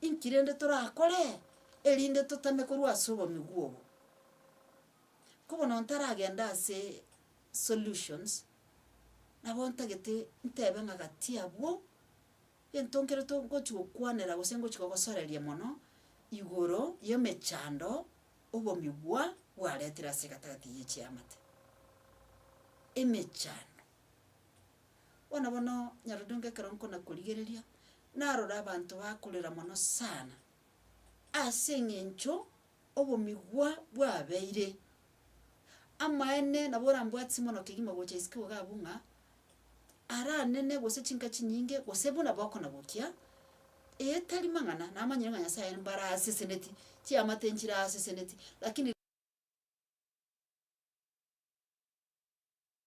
Inki rende torakore erinde totame korwa ase obomigwa obo? Ko bono ntaragende ase solutions, nabo ntagete ntebe ng'a gati abwo, egento nkere to ngochia gokwanera gose ngochia kogosoreria mono, igoro y'emechando obomigwa bwaretire ase egatagati y'echiamate. Emechando. Bono bono nyarodoinga ekero nkonakorigereria, narora abanto bakorera mono sana, ase eng'encho obomigwa bwabeire. Amaene nabo orambwate simono kegima gocha isiko iga abwo ng'a, ara nene gose chinka chinyinge gose buna bokonabokia, eye tari mang'ana, namanyire ng'a Nyasaye aye mbare aseseneti, chiamate nchire aseseneti, lakini.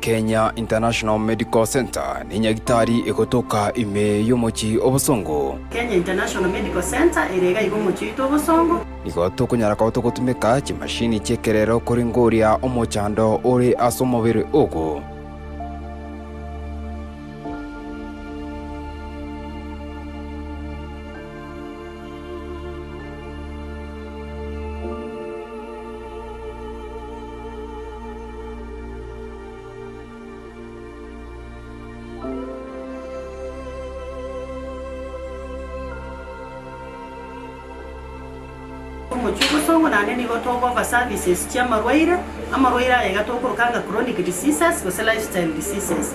Kenya International Medical Centre nenyagitari egotoka ime y'omochie obosongo. Kenya International Medical Centre ere iga iga omochie oito obosongo. Nigo tokonyara koba togotumeka chimashini chi'ekerero korenge oria omochando ore ase omobere ogo. Omochie obotongo naende nigo tokoba services chiamarwaire, amarwaire aya iga tokoroka anga chronic diseases gose lifestyle diseases.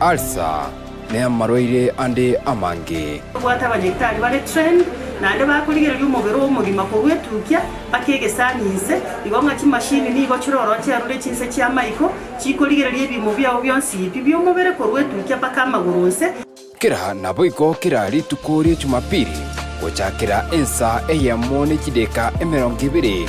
Ulcer, ne amarwaire ande amange. Tobwate abanyagitari bare trained naende bakorigereria omobere omogima korwa etukia mpaka egesani inse, igo ng'a chimashini nigo chire ororo chiarure chinse chi'amaiko chikorigereria ebiimo biao bionsi pi bi'omobere korwa etukia mpaka amagoro onse. Kera naboigo kera rituko rie Chumapili, gochakera ensa eyemo ne chideka emerongo ebere,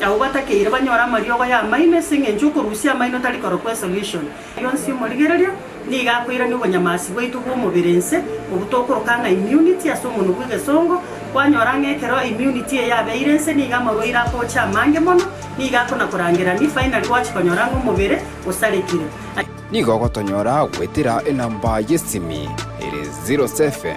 Abwo batakeire banyore amariogo y'amaino ase engencho y'okorusia amaino tari korokwa esolution. Rionsi omorigereria nigo akoirania obonyamasi bwaito bw'omobere inse, obwo tokoroka ng'a immunity ase omonwa bw'egesongo. Kwanyora ng'a ekero immunity eye yabeire inse nigo amarwaire akocha amange mono, nigo akona korangerania, finally gwachi konyora ng'a omobere osarekire. Nigo ogotonyora goetera enamba y'esimi ere zero seven.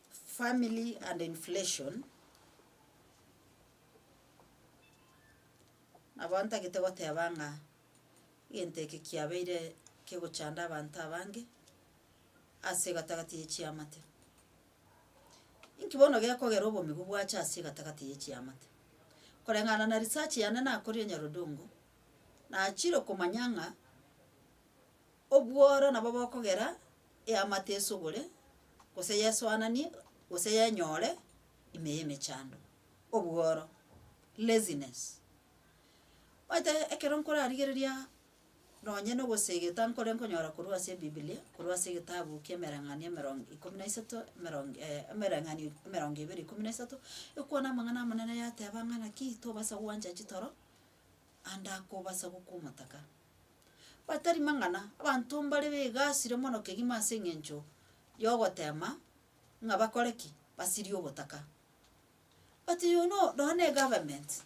Family and inflation, nabo ntagete goteba ng'a egento eke kiabeire kegochanda abanto abange ase egatagati ye chiamate. Inki bono gekogera obomigo bwacha ase egatagati ye chiamate? Koreng'ana na research yane nakoria Nyarodongo, nachire komanya ng'a Obworo nabo bokogera eamate esugure, gose yesoananie, gose yenyore ime y'emechando, obworo, laziness. Omanyete ekero nkorarigereria nonye na ogosegeta nkore nkonyora korwa ase ebibilia, korwa ase egetabu ki'emereng'anio emerongo ikomi na isato, emerongo emereng'anio emerongo ebere ikomi na isato, ekwana amang'ana amanene yateba ng'a naki tobasa gwancha chitoro ande akobasa gokwa omotaka. Batari mang'ana, abanto mbare begasire mono kegima ase eng'encho y'ogoteema ng'a bakore ki? Basirie ogotaka. But you know nonya na egovernment,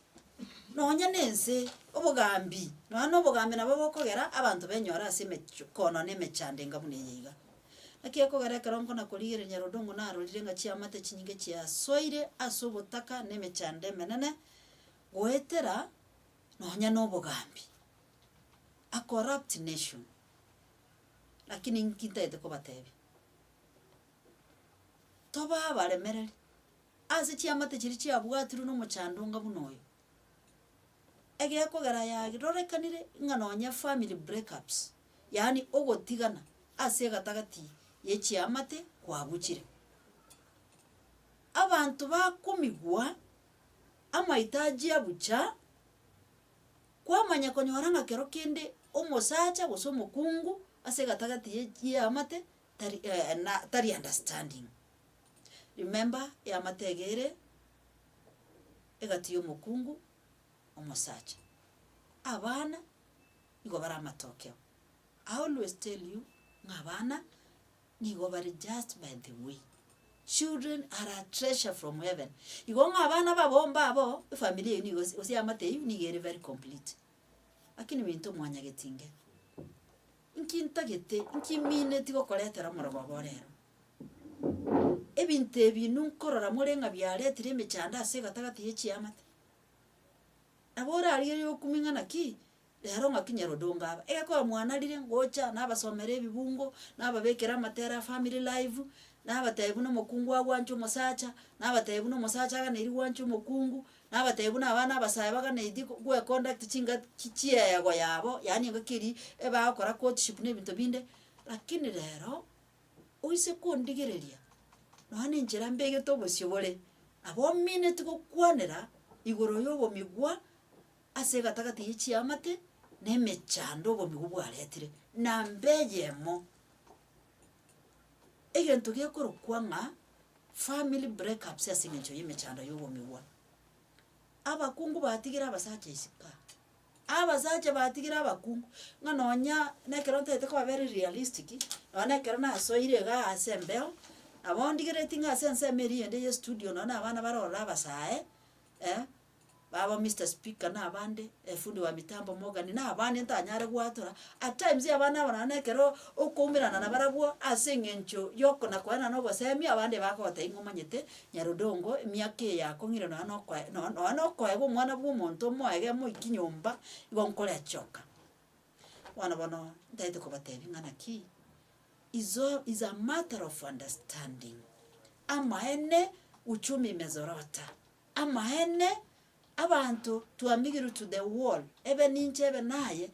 nonya na ense, obogambi, nonya na obogambi nabo bokogera abanto benyore ase emecho koonwa na emechando enga buna eye iga. Naki ekogera ekero nkona korigereria Nyarodong'u narorire ng'a chiamate chinyinge chiasoire ase ogotaka na emechando emenene, goetera. nonya nobogambi, a corrupt nation, lakini inki ntagete kobatebia, toba abaremereri ase chiamate chiria chiabwatirwe nomochandonga buna oyo, egekogera yagi rorekanire ng'a nonye efamiri breakups, yaani ogotigana ase egatagati ya echiamate kwabuchire. Abanto bakomigwa Amaitagia bucha, kwamanya konyora ng'a kero kende omosacha gose omokungu ase egatagati ye y'eamate tari na tari understanding. Remember eamate ege ere egati y'omokungu omosacha. Abana nigo bare amatokeo. I always tell you ng'a abana Nigo bare just by the way. Children are a treasure from heaven. Igo ng'a abana babomba abo, efamiri eyio nigo ase gose eamate eyio nigo ere very complete. Lakini binto mwanyageti inge, inki ntagete, inki mineti gokoretera omoroba obo ore ero? Ebinto ebi inwe nkorora more ng'a biaretire emechando ase egatagati ye chiamate? Nabo orarigerie okumia ng'a naki Rero ng'aki nyarodongo aba, egekoo bamwanarire ngocha nabasomera ebibungo, nababekera amatera a family life, nabatebia buna omokungu agwancha omosacha, nabatebia buna omosacha aganeirie gwancha omokungu, nabatebia buna abana abasae baganeirie go- goeconduct chinga chi- chieyego yabo, yaani engaki eria ebagokora courtship na ebinto binde, lakini rero, oise kondigereria nonya na enchera mbegete obosio bore, nabo omineti gokwanera igoro ya obomigwa. Ase egatagati ye chiamate na emechando obomi obwo bwaretire, na mbe eyemo, egento gekorokwa ng'a family breakups ase eng'encho y'emechando y'obomigwa. Abakungu batigire abasacha isiko aa, abasacha batigire abakungu, ng'a nonya na ekero ntaete kobabera realistic, nonye na ekero nasoire iga ase embeo, nabo ndigereti ng'a ase ensemo eria eyende y'estudio nonye na abana barore abasae, eh. baba Mister Speaker na abande, fundi wa mitambo Morgan na abande ntanyare goatora, at times abana aba nonye ekero okoumerana na barabwo ase eng'encho yoko na korana na obosemi abande bagogotebi ng'a omanyete nyarondongo emiaka eye yakong'ire nonye na okoe no- nonye na okoeba omwana bwa omonto omoege omoiki nyomba igo nkorechoka. Bono bono ntagete kobatebi ng'a naki, is all is a matter of understanding, amaene uchumi imezorota. Amaene, abanto twamigirwe to the wall, ebe ninche ebe naye,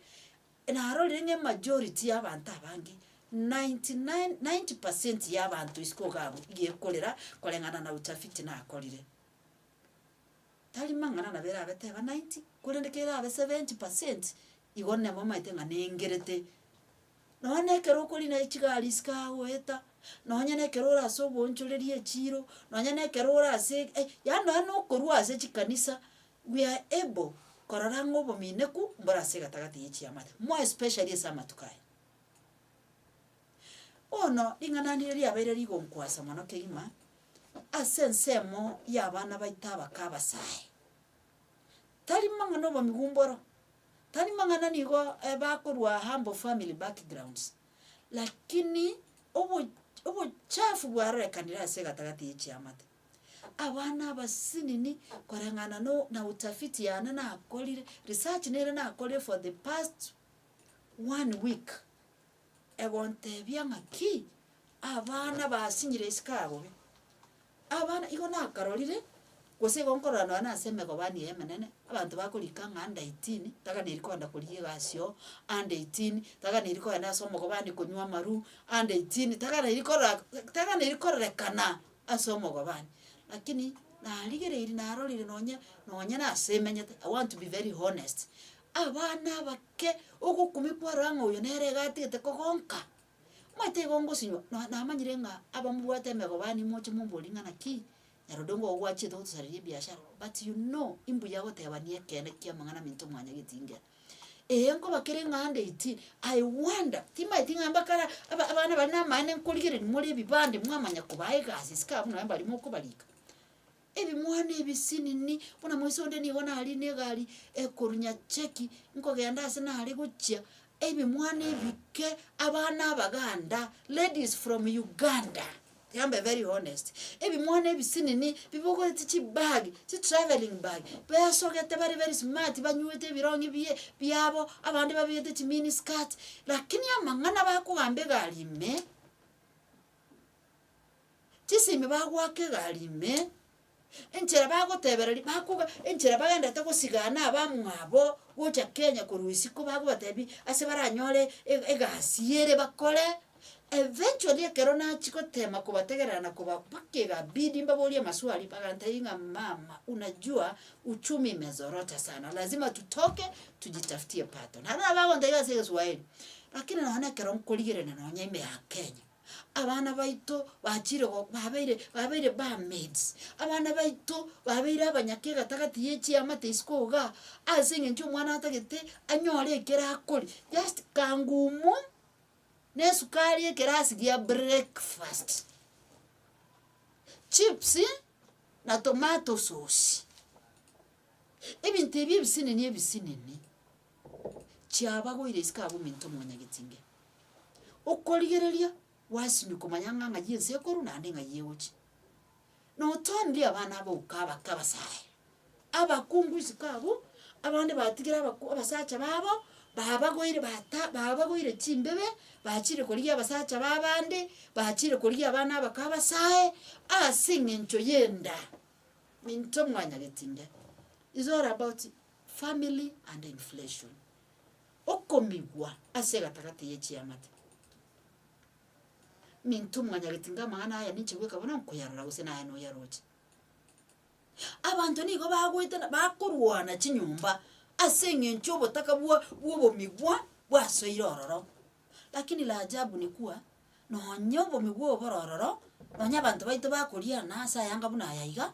narorire ng'a emajority y'abanto abange, ninety nine ninety percent y'abanto isiko iga abwo iga ekorera koreng'ana na utafiti nakorire. Tari mang'ana nabo erabe teba ninety, korende kerabe seventy percent, Igo namomaete ng'a nengerete. Nonya na ekero okorina echigari chikagoeta, nonya na ekero ore ase oboonchoreria echiiro, nonya na ekero ore ase eh, yaani nonya na okorwa ase chikanisa, we are able korora ng'a obomineku mbore ase egatagati ya echiamate, more especially ase amatuko aya. Bono ring'ana ndire riabeire rigonkwasa mono kegima, ase ensemo y'abana baito abake abasae. Tari mang'ana obomigumboro, tari mang'ana nigo bakorwa aa mbo family backgrounds, lakini obo obochafu bwarorekanire ase egatagati ya echiamate. Abana abasinini koreng'ana no na utafiti yane nakorire, research nere nakorire for the past one week. Egontebia ng'a ki? Abana basinyire isiko aa bobe. Abana igo nakarorire, gose igo nkorora nonye na ase emegobani eye emenene, abanto bakorika ng'a under eighteen taganeri koenda korigia egasi oo, under eighteen taganeri koenda ase omogobani konywa amarwa, under eighteen taganeri korora taganeri kororekana ase omogobani. Lakini narigereiri narorire nonye nonye nase emenyete, I want to be very honest, Abana abake, ogokumia kwarora ng'a oyo nere iga atigete kogonka, omanyete igo ngosinywa na namanyire ng'a abamobwate emegobani moche mombori ng'a naki nyarode onga ogo gwachiete gotosareria ebiashara but you know imbuya gotebani ekeene kia amang'ana minto mwanya getingera. Ee nkoba kere ng'a ndeti, I wonder timanyeti ng'a mbakara aba abana bari namaene nkorigereri more ebibande mwamanya kobaa egasi isiko abwo nonye mbari mokobarika. Ebimwana ebi sinini, buna moise onde nigo nari negari ekorunya cheki nkogenda ase nare gochia, ebimwana ebike, abana abaganda, ladies from Uganda, yambe very honest, ebimwana ebi sinini bibogoreti chibag, chitravelling bag, besogete bare very smart banywete ebironge bie biabo, abande babegete chimini skirt, lakini amang'ana bakogamba egari ime. Chisi ime bagoaka egari ime, enchera bagotebereria bakoba enchera baendete gosigana abamwabo gocha Kenya korwa isiko bagobatebi ase baranyore e- egasi ere bakore, eventually ekero nachia gotema kobategerera na koba mpaka egabidi mbaborie amaswali bagantebia ng'a mama unajua uchumi imezorota sana lazima tutoke tujitafutie pato. Naende nabo bagontebia ase egeswaeri, lakini nonye na ekero nkorigerania nonye ime ya Kenya. abana baito bachire go babeire babeire bamaids, abana baito babeire abanyaka egatagati ya echiamate isiko igaa, ase eng'encho omwana atagete anyore ekero akoria, just kangumu na esukari ekerasi gia breakfast, chips na tomato sosi, ebinto ebi ebisinini ebisinini. chiabagoire isiko aba ominto omonyagetinge. Okorigereria gwasimia komanya ng'a ng'ai ense ekorwa naende ng'ai egochia. Notoorire abana abo okabaka abasae, abakungu isiko abwo, abande batigire abaku abasacha babo, babagoire bata babagoire chimbebe, bachire korigia abasacha ba abande, bachire korigia abana abakwo abasae, ase eng'encho y'enda, minto mwanyagetinge. Is all about Family and inflation, okomigwa ase egatagati ye chiamate. Minto mwanyagete inga amang'ana aya ninche goika bono nkoyarora gose naye noyaroche. Abanto nigo bagoetana bakorwana chinyomba ase eng'encho obotaka bwa bw'obomigwa bwasoire ororo. Lakini la ajabu ni kuwa nonye obomigwa obo bore ororo, nonye abanto baito bakoriana ase ayanga buna aya iga,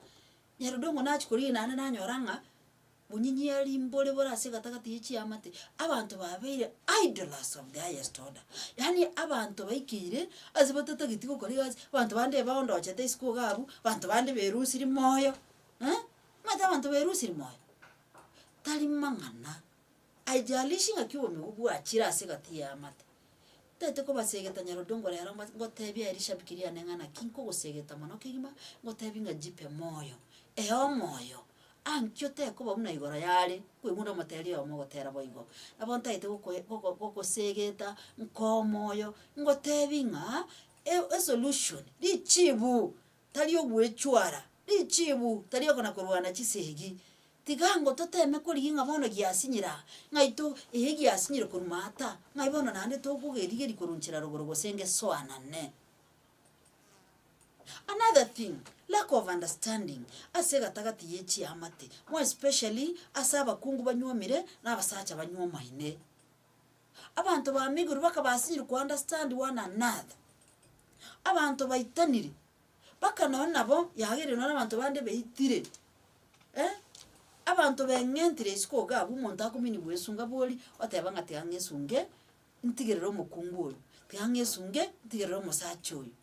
Nyarudongo nachia koriina aria nanyora ng'a bonyinyari mbore bore ase egatagati ye chiamate, abanto babeire idlers of the highest order, yaani abanto baikeire ase batatageti gokora egasi, abanto bande ebaondochete isiko iga abwo, abanto bande berusirie moyo, eh, omanyete abanto berusirie moyo? Tari mang'ana. Haijalishi ng'aki obomigwa bwachire ase egati y'eamate, ntaete kobasegeta nyarondongore ero ng'a ngotebia aye rishabiki riane ng'a naki nkogosegeta mono kegima, ngotebia ng'a jipe moyo. Ee omoyo, aa nki otekoba buna igoro yare, kwegunda omoteri oyomo ogotera boigo. Nabo ntaete gokoe gogo gogosegeta nkoa omoyo, ngotebia ng'a e- esolution, richibu. tari ogwechwara, richiibu, tari okona korwana chisegi. Tiga ango toteme korigia ng'a bono giasinyire aa, ng'a ito eye giasinyire korwa maata, ng'ai bono naende tokogerigeria koronchera rogoro gose ngesoanane. Another thing, lack of understanding ase egatagati ye chiamate, more especially ase abakungu banywomire na abasacha banywomaine. Abanto ba Migori bakabasinyire ko understand one another. Abanto baitanire, mpaka nonye nabo yageire nonye nabanto bande baitire, eh, abanto beng'entire isiko iga abwo omonto akominigwa bwesunga bori oteba ng'a tiga ng'esunge ntigerere omokungu oyo, tiga ng'esunge ntigerere omosacha oyo.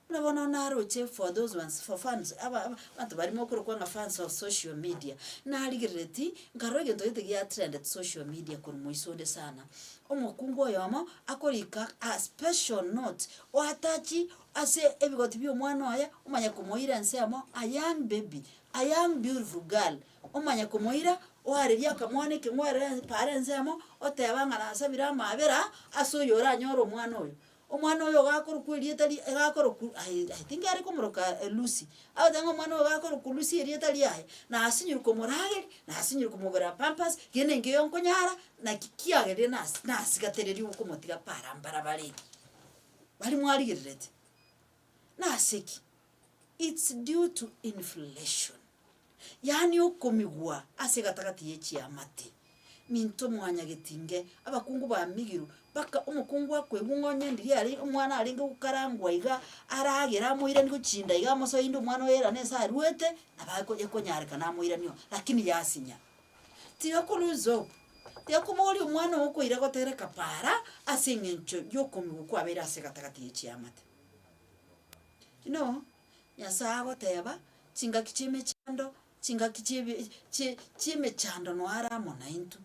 Buna bono naroche for those ones for fans aba aba abanto barimo okorokwa ng'a fans of social media, narigerereti nkarora egento gete gia trended social media korwa moiso onde sana. Omokungu oyomo akorika a special note oatachi ase ebigoti bia omwana oye omanya komoira ensemo a young baby, a young beautiful girl, omanya komoira oaririe akamwana ekeng'werere paara ensemo oteba ng'a nasabire amaabera ase oyo oranyore omwana oyo. Omwana oyo gakorokwa erieta ri gakorokwa aye aye tingare komoroka Lucy, agoteba ng'a omwana oyo gakorokwa Lucy erieta riaye, nasinyire komorageri, nasinyire komogorera pampers, gena engiya eyio nkonyara, naki kiagerire nasi nasigatereri okomotiga para mbarabara eria, bari mwarigerereti. Nase ki? It's due to inflation, yaani okomigwa ase egatagati ye chiamate. Minto mwanyageti nge abakungu bamigiru, mpaka omokungu akoigwa ng'a onye ndiria are omwana arenge gokarangwa iga, aragere amoirani gochinda iga amosoe inde omwana oye rane nse aruete, nabo akonya konyarekana amoirani oo, lakini yasinya. tigakorwa esabu, tigakoboria omwana oo okoira gotera ekapara ase eng'encho y'okomigwa kwabeire ase egatagati ya chiamate. Buna oo, Nyasae agoteba, chingaki chi'emechando, chingaki chi'ebi chie chi'emechando noe are amo naintwe.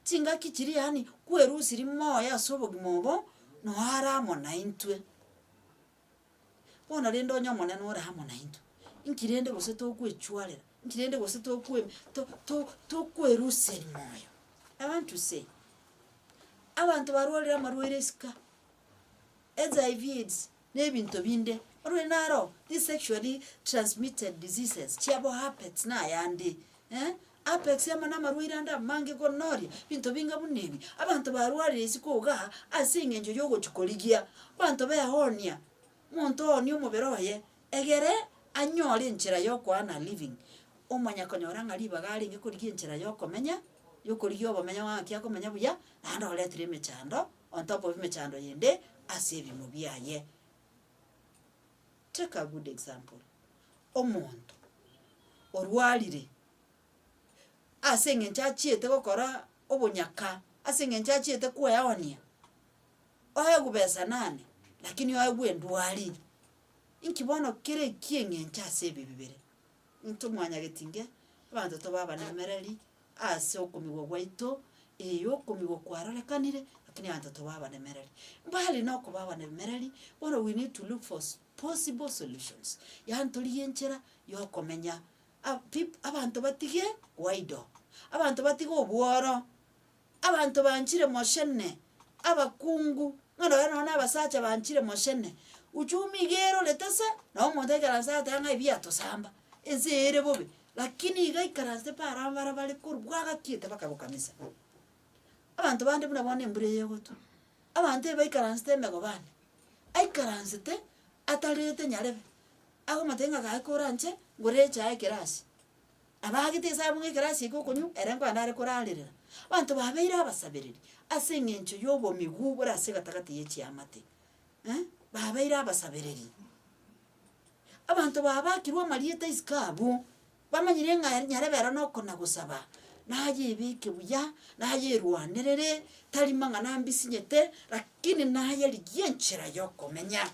Chingaki chiria yaani kwerusiri moyo ase obogima obo, noe are amo naintwe. Bono rende onye Omonene ore amo naintwe, inki rende gose tokwechwarera? Inki rende gose tokwe to- to- tokweruseria moyo? I want to say, abanto barwarire amarwaire isiko, HIV aids, na ebinto binde, barwaire naro, these sexually transmitted diseases chiabo herpets na ayande, eh, Apex amo namarwaire ande amange konoria binto binga buna ebi, abanto barwarire isiko igaa ase engencho yogochia korigia. Abanto behonia, monto ohonie omobere oye, egere anyore enchera yokoana living. Omonyakonyora ng'a ribaga arenge korigia enchera yokomenya, yokorigia obomenyo ng'aki akomenya buya, naende oretire emechando, ontop of emechando yende ase ebimo biaye. Take a good example, omonto orwarire ase eng'encho achiete gokora obonyaka, ase eng'encho achiete kweonia, oegwe besa nane lakini oegwe endwari, inki bono kere eki'eng'encho ase ebi bibere? Ntomwanyagetinge abanto tobe abanemereri, Ase okomigwa gwaito, ee, okomigwa kwarorekanire, lakini abanto toba abanemereri. Mbali nokoba abanemereri, bono we need to look for s- possible solutions, yaani torigie enchera yokomenya a- peop- abanto batige goidle, abanto batige obworo, abanto banchire moshene, abakungu, bono nonye nonye na abasacha banchire moshene, uchumi iga erorete se, nabo omonto aikaransete ng'a ebiatosamba, ense eye ere bobe, Lakini iga aikaranse paro aba bara bare korwa bwagakiete baka gokamisa. Abanto bande buna bono embura eye egotwa, abanto ebe baikaransete emegobani, aikaransete atarete nyarebe, agomotebi ng'a gaki kore anche ngoreche aa ekerasi. Abagete esaa abwo ng'a ekerasi eke okonywa, ere nkonya nare korarerera. Abanto babeire abasabereri ase eng'encho ya obomiguu bore ase egatagati ye chiamate. eh, babeire abasabereri. Abanto baba bakirwe amarieta isiko abwo, bamanyire ng'a ere nyarebe ero nokona gosaba, nayebeke buya, nayerwanerere, tari mang'ana ambisinyete, rakini nayerigie enchera yokomenya.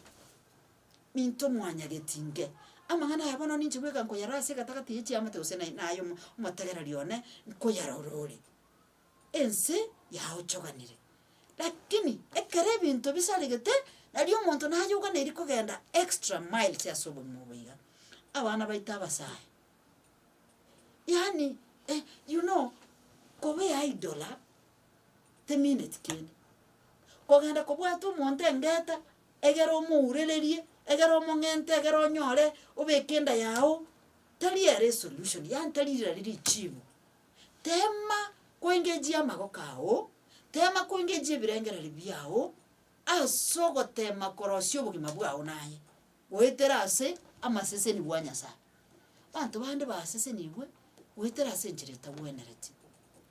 Minto mwanyageti inke, amang'ana aya bono ninche bweka nkoyarora ase egatagati ya chiamate gose naye naye omo omotegereri one, nkoyarora ore. ense yaochoganire. Lakini ekero ebinto bisaregete, nari omonto nayoganeirie kogenda extra miles ase obogima obo iga, abana baito abasae. Yaani eh you know kobe idle temineti kende, kogenda kobwate omonto engeta egere omourererie, egere omong'ente, egere onyore obeke enda yago, tari ere esolution, yaani tari riria richibu Teema koengejia amagoko ao, teema koengejia ebirengererio biao, as'ogoteema korosia obogima bwao naye, goetera ase amasesenigwa a Nyasaye. Abanto bande basesenigwe goetera ase enchera etagwenereti,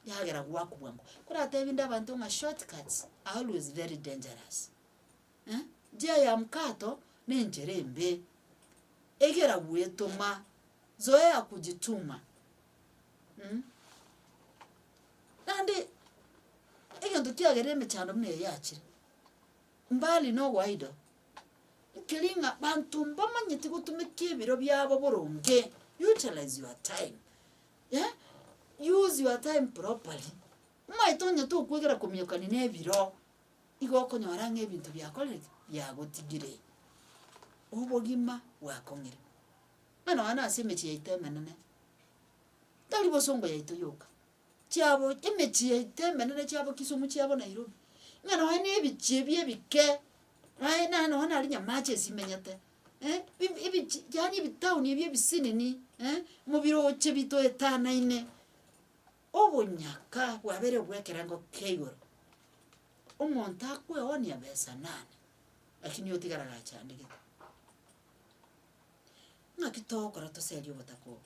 yagera gwaku bwango. Koratebi inde abanto ng'a short cuts are always very dangerous, eh, njia ya mkato na enchera embe, egera gwetoma, zoea kujituma. naende egento kiagera emechando buna eye yachire, mbali na oboaido, nkeri ng'a banto mbamanyeti gotumeka ebiro biabo boronge, utilize your time, eh, use your time properly, manye tonya tokwegera komiokani na ebiro, igo okonyora ng'a ebinto biakorire ki, biagotigire, obogima bwakong'ire. Ng'a nonya nase emechie yaito emenene tari bosongo yaito yoka, chiabo emechie yaito emenene chiabo kisumu chiabo nairobi, ng'a nonya na ebichie ebi ebike, naye naye nonya nari nyamache esimenyete, ebi ebichi yaani ebitauni ebi ebisinini mobiroche bitoetanaine, obonyaka bwabere bwekerengo kei igoro. Omonto akweonia besa nane, lakini otigare agachandegete. Naki togokora toserie obotaka obo?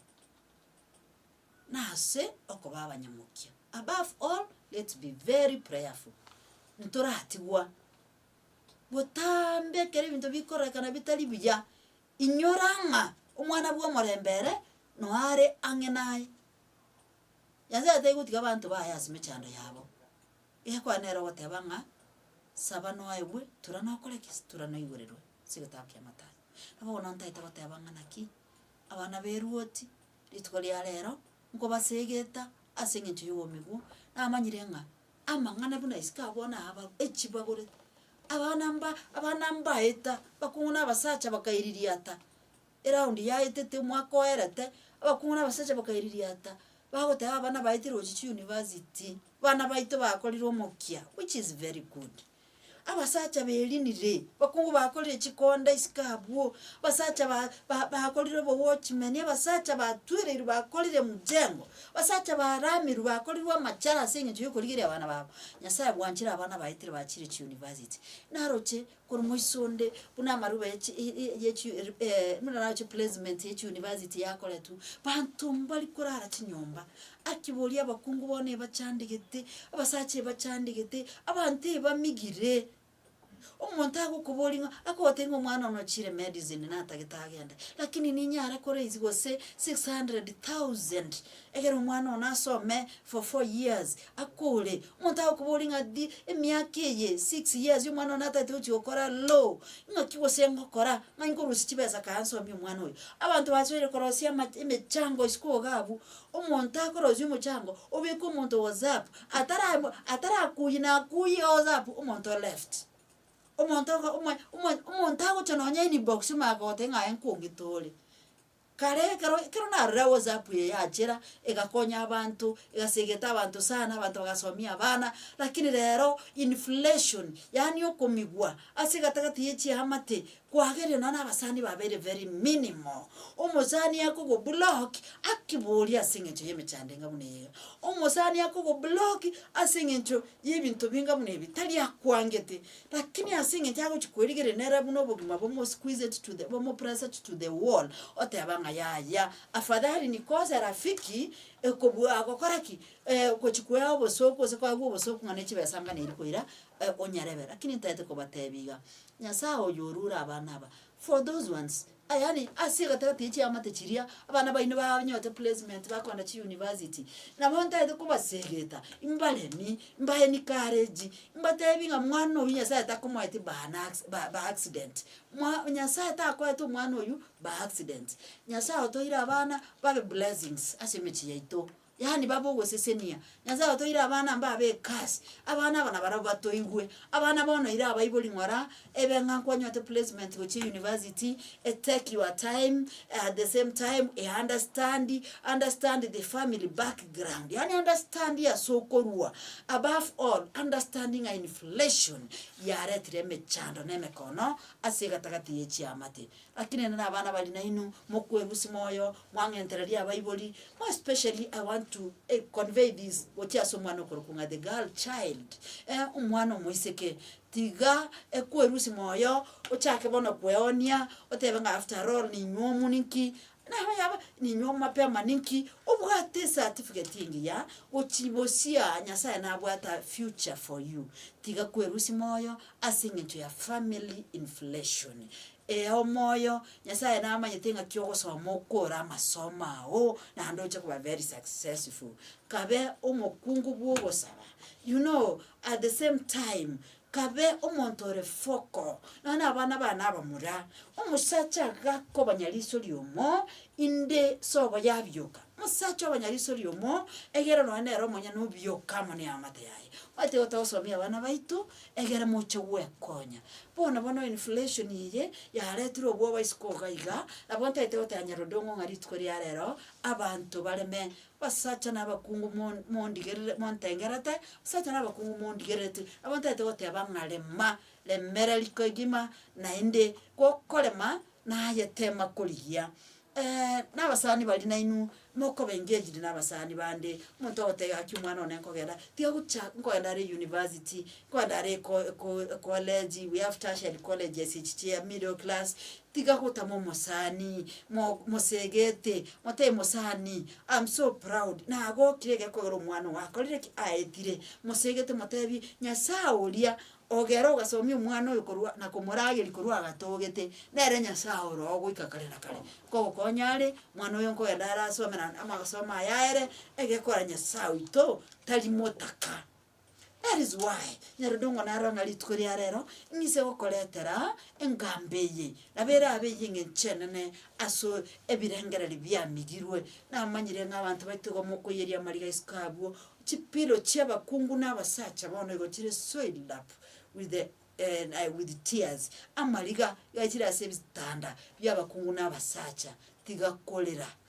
Nase okoba abanyamokia. Above all, let's be very prayerful. Ntoratigwa botambe ekero ebinto bikorekana bitari buya, inyora ng'a omwana bw'omorembe ere noo are ang'e naye. Nyasae taigotiga abanto baye ase mechando yabo. Egekwana nere ogoteba ng'a saba noegwe, tura nokore ki? Tura noigoreru. ase egetabo kia Mathayo. Nabo bono ntaete goteba ng'a naki abana b'eruoti rituko ria rero nkobasegeta ase eng'encho y'obomigwa, namanyire ng'a amang'ana buna isiko abwo bono aaba echibagure, abana mba abana mbaeta abakong'u na abasacha bakaiririata, eraundi yaetete omwaka oerete, abakong'u na abasacha bakaiririata, bagoteba abana baetirwe gochia chiunivasiti, bana baito bakorire omokia, which is very good. Abasacha berinire, bakungu bakorire chikonda isiko abwo, abasacha ba- ba- bakorire obowatchimeni, abasacha batwereirwe bakorire emujengo, abasacha baramirwe bakorirwe amachara ase eng'encho yokorigeria abana babo, nyasaye bwanchire abana baye tiri bachire echiuniversity, naroche korwa moiso onde buna amaruba echi i- i- yechi eri buna naroche eplacement yechiuniversity yakoretwa, banto mbari korara chinyomba, Akibori abakungu bono ebachandegete, abasacha ebachandegete, abanto ebamigire. Omonto agokobori ng'a akogotebia ng'a omwana one ochire medicine natagete agende, lakini ninyare koraise gose six hundred thousand egere omwana one asome for four years akure. Omonto agokobori ng'a di emiaka eye six years omwana one atagete gochi gokora law, ng'aki gose ngokora ng'ai nkorusie chibesa kae nsomie omwana oyo. Abanto basoire korosia amache emechango isiko iga abwo, Omonto akorosia omochango obeke omonto whatsapp atara atarakuyi nakuyi owhatsapp omonto o left. Omonto ogo omo omo omonto agocha nonya inbox omanye gogotebia ng'a aye nkong'itore. Kare ekero ekero narorire whatsapp eye yachera egakonya abanto egasegeta abanto sana abanto bagasomia abana, lakini rero inflation yaani okomigwa ase egatagati ya echiamate Kwagerio nonya abasani babere very minimal. Omosani akogoblock akibori ase eng'encho y'emechando enga buna eyeiga. Omosani akogoblock ase eng'encho y'ebinto binga buna ebi tari akwangete. Lakini ase eng'encho agochi kwerigereria nere buna obogima bomo squeeze it to the bomo press it to the wall, oteba ng'a yaya, afadhali nikose rafiki, ekobu agokora ki? gochi kwea obosoku gose kwagwa obosoku ng'a ne chibesa ngane eria koira onyarebe. Lakini ntaete kobatebia iga, Nyasae oyo orure abana aba for those ones yaani ase egatagati ya chiamate chiria abana baino banyote placement bakogenda chiuniversity nabo ntaete kobasegeta mbaremi mbae encourage mbatebi ng'a mwana oyio nyasae takomoeti by an acci by by accident mwa nyasae takoete omwana oyio by accident nyasae otoire abana babe blessings ase emechie yaito Yaani babe ogosesenia, Nyasae otoeire abana mbabe ab'ekasi, abana aba nabarabwo batoigwe, abana bono ira abaibori ng'ora ebe ng'a nkwanyorete placement gochia university, e take your time, at the same time e understand, understand the family background, yaani understand ase okorua, above all understand ng'a inflation yaretire emechando na emekono ase egatagati ya echiamate. Lakini nende nabana bari nainwe, mokwerusia moyo, mwang'entereria abaibori, more especially I want to convey this gochia ase omwana okorokwa ng'a the girl child, omwana omoiseke, tiga ekwerusia moyo, ochake bono kweonia, otebe ng'a after all ninywe omonwe nki, Nabo yaba, Ninywe omapema ninki obwate ecertificate enge ya gochi bosia Nyasaye nabwate a future for you? Tiga kwerusia moyo ase engencho ya family inflation. Ea omoyo, Nyasaye namanyete ng'aki ogosoma okore amasomo ao naende oche koba very successful. Kabe omokungu bw'ogosaba. You know, at the same time, Kabe omonto ore foko, nonya nabana bane abamura, omosacha gakobonya riso riomo, inde sobo yabioka. Omosacha obonya riso riomo, egere nonya nere omonyene obioka amo neamate yaye. Omanyete igo togosomia abana baito, egere moche gwekonya. Bono bono inflation eye, yaretire obwoba isiko iga iga, nabo ntagete goteeba nyarodongo ng'a rituko riarero, abanto bareme Abasacha na abakungu mo, mondigerere, montengerete, abasacha na abakungu mondigerereti, nabo ntaete goteba ng'a rema, remera riko egima, naende gokorema naye tema korigia. na abasani baria nainwe, mokoba engaged na abasani bande, omonto ogoteba gaki omwana one nkogenda, tiga gocha nkogenda are eyunivasiti, nkogenda are eko- eko- ekoleji, we have tertiary colleges echi chia middle class, Tiga gotama omosani, mo mosegete, motebe mosani am so proud, nagokire egekoko egere omwana ogo akorire ki? Aetire. Mosegete motebi, Nyasaye oria ogere ogasomia omwana oyo korwa na komorageria korwa agatogete, nere Nyasaye oro ogoika kare na kare, kogokonya are, mwana oyo nkogenda arasome na amasomo aya aere, egekora Nyasaye oito tari motaka. That is why nyarende ong'onaroe ng'a rituko ria rero ng'ise gokoretera engamba eye, nabo erabe eye eng'encho enene ase ebirengereri biamigirwe. Namanyire ng'a abanto baito igo mokoiyeria amariga isiko abwo, chipillow chi'abakungu na abasacha bono igo chire soiled up with the with tears, amariga iga chire ase ebitanda bi'abakungu na abasacha, tiga korera.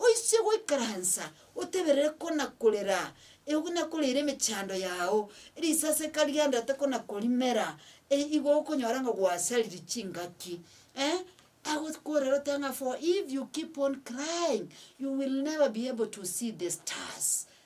Oise goikaransa oteberere kona-korera, eogo nakoreire emechando yao, risaseka ri'andate kona-korimera, erio igo okonyora ng'a gwasariri chingaki. Eh, agokorera ote ng'a for if you keep on crying, you will never be able to see the stars.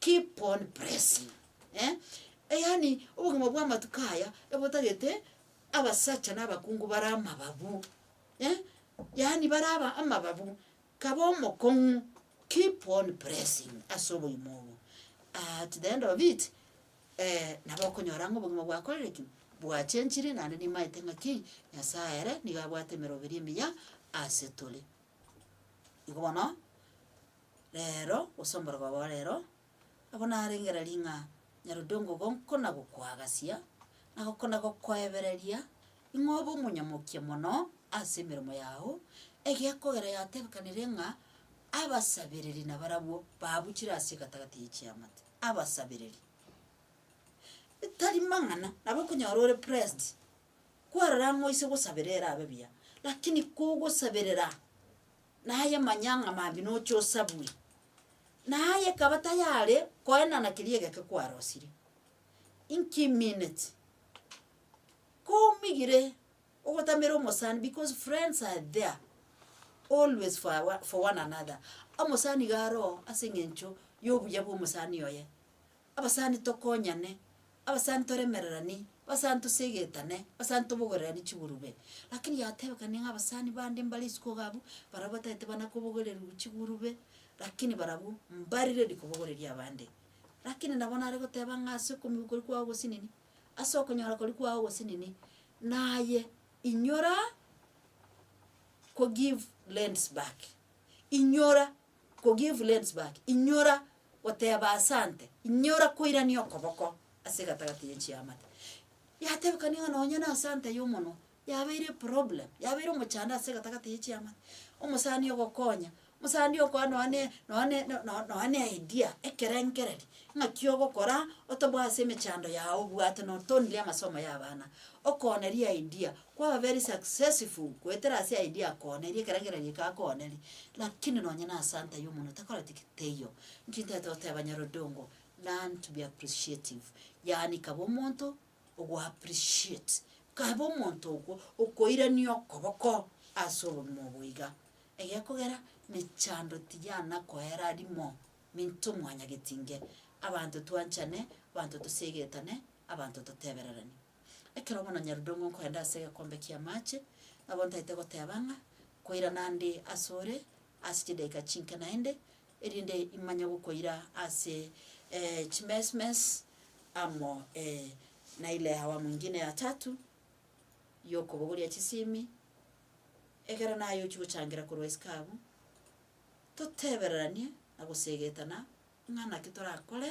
Keep on pressing eh, yaani obogima bwa amatuko aya ebotagete abasacha na abakungu bare amababu eh, yaani bare aba amababu kaba omokong'u keep on pressing ase obogima obo at the end of it eh, nabo okonyora ng'a obogima bwakorire ki bwachenchire naende nimaete ng'a ki nyasaye ere nigo abwate emeroberi emiya ase tore. Igo bono. Reero gose omborogo obo reero, nabo narengera ring'a Nyarodongo gokona gokoagasia, na gokona gokoebereria, ing'o obe omonyamokia mono ase emeremo yao, egekogera yatebekanire ng'a abasabereri nabarabwo babuchire ase egatagati ye chiamate, abasabereri. Tari mang'ana, nabo okonyora ore pressed, kwarora ng'a oise gosabera erabe buya, lakini kogosaberera. naye manya ng'a mambia nocha osabwe. Naye ekaba tayare koenana keria egeke kwarosire, inki minute? Komigire ogotamera omosani because friends are there always for our for one another, omosani iga aroo ase eng'encho ya obuya bwa omosani oye. Abasani tokonyane, abasani toremererani, abasani tosegetane, abasani tobogererani chigurube. Rakini yatebekanie ng'a abasani bande mbare isiko iga abwo, barabwo batagete bana kobogererigwa chigurube, rakini barabwo mbari ready kobogoreria abande. Rakini nabo nare goteba ng'a ase okomi koria kwao ogosinini, ase okonyora koria kwao ogosinini, naye inyora ko give lends back, inyora. Kogive lens back, inyora goteba asante, inyora koirania okoboko ase egatagati ye chiamate. Yatebekani ng'a nonye na asante y'omonwa yabeire eproblem, yabeire omochando ase egatagati ye chiamate. Omosani ogokonya, omosani okoa nonya ne nonya ne no- no- nonya ne idea, ekerengereri, ng'aki ogokora otoboa ase emechando yago obwate notoonie amasomo ya abana, okonerie idea, kwaba very successful goetera ase idea akoonerie ekero eng'ina rieka akoonerie, lakini nonye na asanta y'omonwe takoreti ki? Teiyo. Inki ntaete goteba Nyarodongo, learn to be appreciative, yaani kaba omonto ogo appreciate, kaba omonto okwo okoirania okoboko ase obogima obo iga, egekogera mechando tiyana koera rimo minto mwanyagetinge, abanto twanchane, abanto toseegetane, abanto totebererane. Ekero bono Nyarudong'o nkorende ase egekombe ki'amache, nabo ntaete goteba ng'a koirana nde asore ase chidaika chinke naende, erinde imanye gokoira ase chimesmes amo na ile awamu ingine ya tatu y'okobogoria chisimi, ekero naye ochia gochangira korwa isiko abwo, totebereranie na goseegetana ng'a naki torakore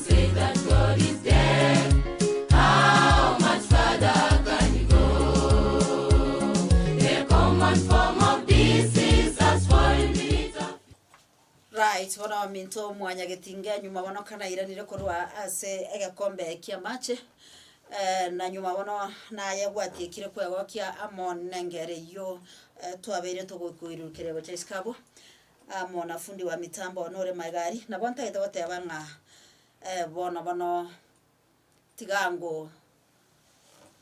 Right, bono ominto omwanyagetinge nyuma bono kanairanire korwa ase egekombe ki'amache, na nyuma bono naye gwatiekire kwegokia amo nengere eyio twabeire togokoirurukeria gocha isiko abwo. Aa mo na fundi wa mitambo one ore maegari, nabo ntagete goteba ng'a eh, bono bono tiga ngo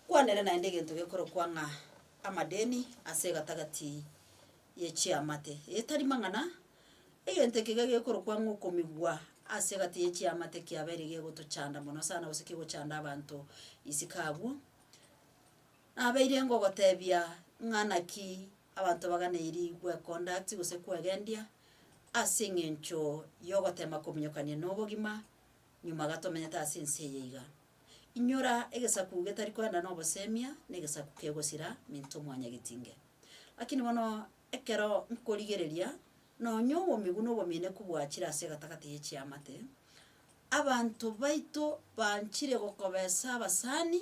kwanere naende egento gekorokwa ng'a amadeni ase egatagati ye chiamate. Eye tari mang'ana, egento eke iga gekorokwa ng'a okomigwa ase egati ye chiamate kiabeire gegotochanda mono sana gose kegochanda abanto isiko abwo. Nabeire ngogotebia ng'a naki abanto baganeri gwekonda ati gose kwegendia ase engencho y'ogotema kominyokania nobogima nyuma gatomenyete ase ense eye iga. Inyora egesaku getari koenda nobosemia negesaku kegosira minto mwanyagetinge. Lakini bono ekero nkorigereria nonya obomigu nobomeneku bwachire ase egatagati ye chiamate, abanto baito banchire gokobesa abasani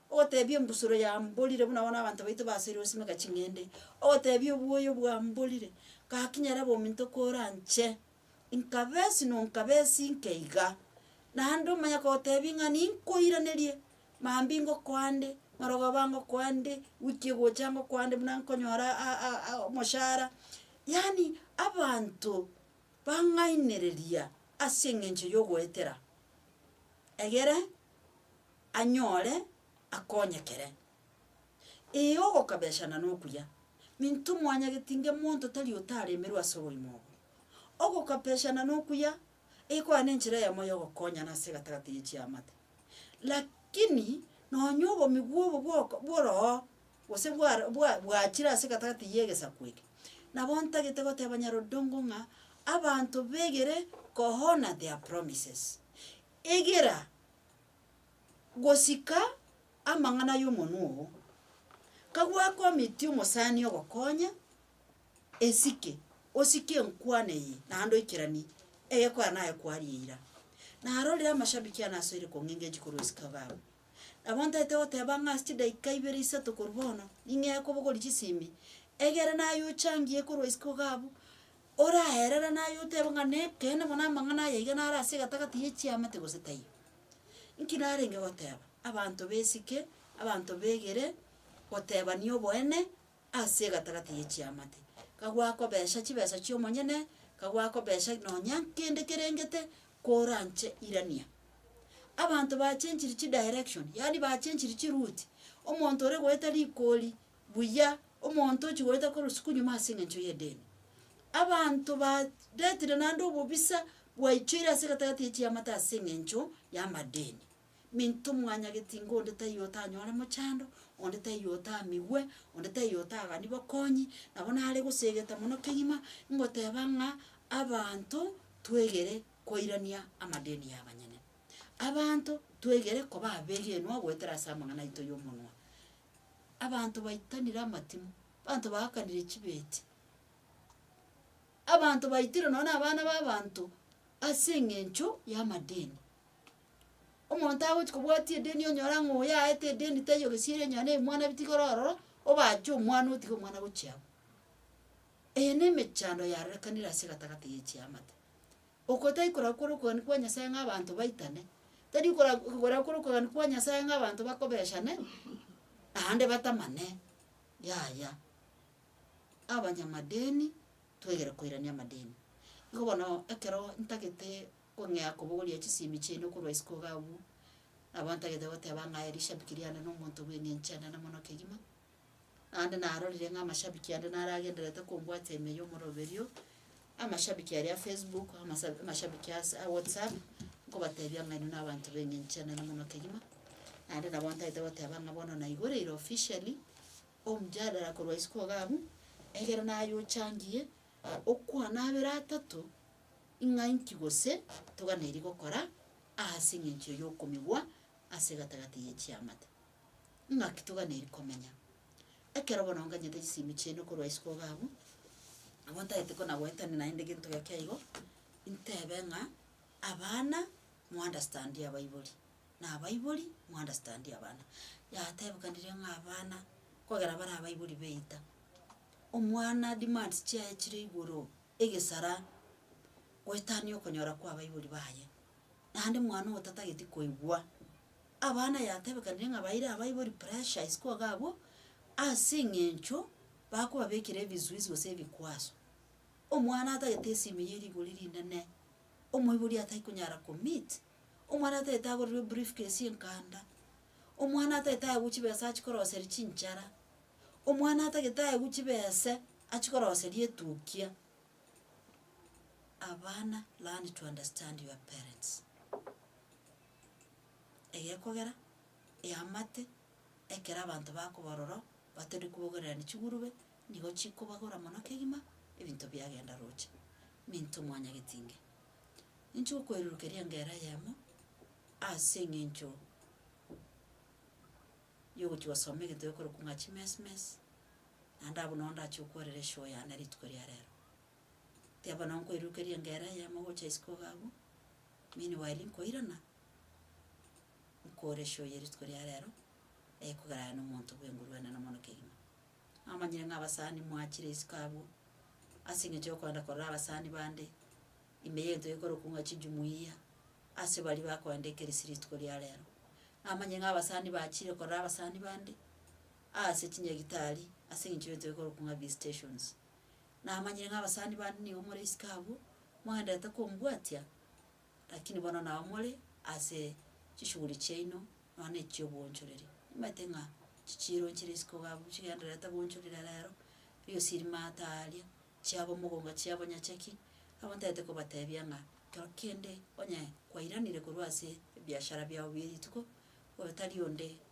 Ogoteebia embusuro ya mborire buna bono abanto baito basoire gosimeka ching'ende, ogoteebia obwoyo bwa mborire, gaki nyare bominto koranche, nkabe esi no nkabe esi nke iga. Naende omanye kogoteebia ng'a ninkoiranerie, mambia ngokoa nde, marogoba ngokoa nde, wiki egocha ngokoa nde buna nkonyora a- a- a omoshara, yaani abanto bang'ainereria ase eng'encho yogoetera egere. anyore akonyekere. Ee, ogokabeshana nokuya, minto mwanyageti inge monto tari otaremerwe ase oborimo obo. Ogokabeshana nokuya, egekoa nenchera eyemo yogokonyana ase egatagati ye chiamate. Lakini nonya obomigwa obo bwoko bworooo gose bwaro bwa bwachire ase egatagati ye egesaku eke, nabo ntagete goteba nyarodongo ng'a abanto begere kohoner their promises. Egera. gosika amang'ana y'omonwa oo, kagwake omitie omosani ogokonya esike, osike enkwana eye naende oikeranie egekwana naye kwaria eira. Naro riria amashabiki ane asoire kong'engeria chikorwa esika baba, nabo ntaete goteba ng'a ase chidaika ibere isato korwa bono, ning'ee kobogoria chisimi, egere naye ochangie korwa isiko iga abwo, Oraherere naye otebe ng'a nekeene mono amang'ana aya iga nare ase egetagati ye chiamate gose taiyo. Nki narenge goteba? Abanto b'esike, abanto begere gotebania oboene ase egatagati ye chiamate. Ka gwakobecha chibesa chi'omonyene, ka gwakobecha nonya nkende kerengete, koranche irania. Abanto bachenchiri chidirection, yaani bachenchiri chiruti, omonto ore goeta rigori buya omonto ochigoeta korwa isiko nyuma ase engencho y'edini. Abanto ba retire naende obobisa bwaichoire ase egatagati ya chiamate ase engencho y'amadini. Minto mwanyageti ng'a onde taiyo otanyore mochando, onde taiyo otamigwe, onde taiyo otagani bokonyi, nabo nare gosegeta mono kegima ngoteba ng'a abanto twegere koirania amadini y'abanyene. Abanto twegere koba abegenwa goetera ase amang'ana aito y'omonwa. abanto baitanire amatimo, abanto baakanire chibeti, abanto baitirwe nonye na abana ba abanto ase eng'encho y'amadeni. Omonto agochi kobwati edeni onyora ng'a oyo aete edeni taiyo gesieri onye na ebimwana bitigara ororo, obache omwana otige omwana gochia abwo. Eye na emechando yarorekanire ase egatagati ya echiamate. Oko tai korakora okogania kwa Nyasae ng'a abanto baitane, tari kora korakora okogania kwa Nyasae ng'a abanto bakobechane, naende batamane, yaya. Abanyamadini twegere koirania amadini. Igo bono ekero ntagete kong'ea kobogoria chisemi chiaino korwa isiko iga abwo, nabo ntagete goteba ng'a erishabiki riane na omonto bw'eng'encho enene mono kegima. naende narorire ng'a amashabiki ande naro agendererete kombwata ime ya omoroberio, amashabiki aria a facebook, amasa amashabiki ase a whatsapp, nkobatebia ng'a inwe na abanto b'engencho enene mono kegima, naende nabo ntagete goteba ng'a bono naigoreire officially omjadala korwa isiko iga abwo, egere naye ochangie, okwana abere atato, ing'a inki gose toganeirie gokora ase eng'encho yokomigwa ase egatagati ye chiamate. Naki toganeiri komenya? Ekero bono nganyete chisemi chiaino korwa isiko iga abwo, nabo ntagete kona-goetania naende gento geke aigo, intebe ng'a, Abana, mounderstandie abaibori, na abaibori, mounderstandie abana. Yatebekanire ng'a abana, kogera bare abaibori baita, omwana demands chiaye chire igoro egesara goetania okonyora kwa abaibori baye, naende mwana otatageti koigwa. Abana yatebekanire ng'a baire abaibori pressure isiko iga abwo, ase eng'encho bakobabekera ebisuisi gose ebikwaso. Omwana atagete esimi ya erigori rinene, omoibori atai konyara ko meet, omwana atagete agorirwe brief case enkanda, omwana atagete aegwe chibesa achikoroseri chinchara, omwana atagete aegwe chibese achikoroseri etukia, abana learn to understand your parents. egekogera, eamate, ekero abanto bakoba ororo, batari kobogererania chigurube, nigo chikobagora mono kegima, ebinto biagenda roche, minto mwanyageti inge. Ninche okoererokeria engera eyemo, ase eng'encho yogochia gosoma egento gekorokwa ng'a chimesmes, naende abwo nabo ndachia okoerera eshow yane rituko ria rero. Tiga bono nkoirukerie engera eyemo gocha isiko iga abwo, meanwhile nkoirana, nkore show ya rituko ria rero, ekogera aye nomonto bw'enguru enene mono kegima. Namanyire ng'a abasani mwachire isiko abwo, ase eng'encho yokoenda korora abasani bande, ime y'egento gekorokwa ng'a chijumuiya, ase baria bakoenda ekerisi rituko ria rero. Namanyire ng'a abasani bachire korora abasani bande, aase chinyagitari, ase eng'encho y'egento gekorokwa ng'a visitations. Namanyire ng'a abasani bande nigo more isiko abwo, mwagenderete kombwatia, lakini bono nao more ase chishughuli chiaino, nonya na echi'obwoonchoreri. Nimanyete ng'a chichiironchire isiko iga abwo, chigendererete goonchorera reero, riosi rimaate aaria, chiabo omogongo chiabo onye cheki, nabo ntaete kobateebia ng'a kero kende onye kwairanire korwa ase ebiashara biao bie rituko, oyo tari onde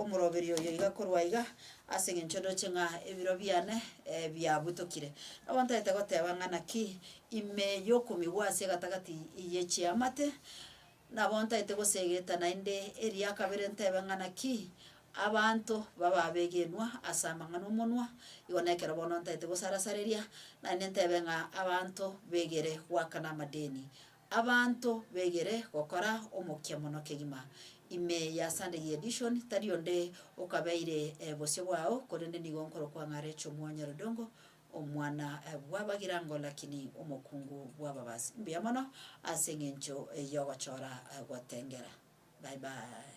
omoroberio oyo iga korwa iga, ase engencho ndoche ng'a ebiro biane biabutokire. Nabo ntaete goteba ng'a naki ime yokomigwa ase egatagati ye chiamate, nabo ntaete gosegeta naende eria kabere ntebe ng'a naki abanto baba abegenwa ase amang'ana omonwa, igo nekero bono ntaete gosara sareria, naende ntebe ng'a abanto begere goakana amadeni Abanto begere gokora omokia mono kegima. Ime ya Sunday Edition, tari onde okabeire bosio bwao, korende nigo nkorokwa ng'a Rachel Mwonyorodongo, omwana bw'abagirango lakini omokungu bw'ababasi. Mbuya mono ase eng'encho y'ogochora gotengera. Bye bye.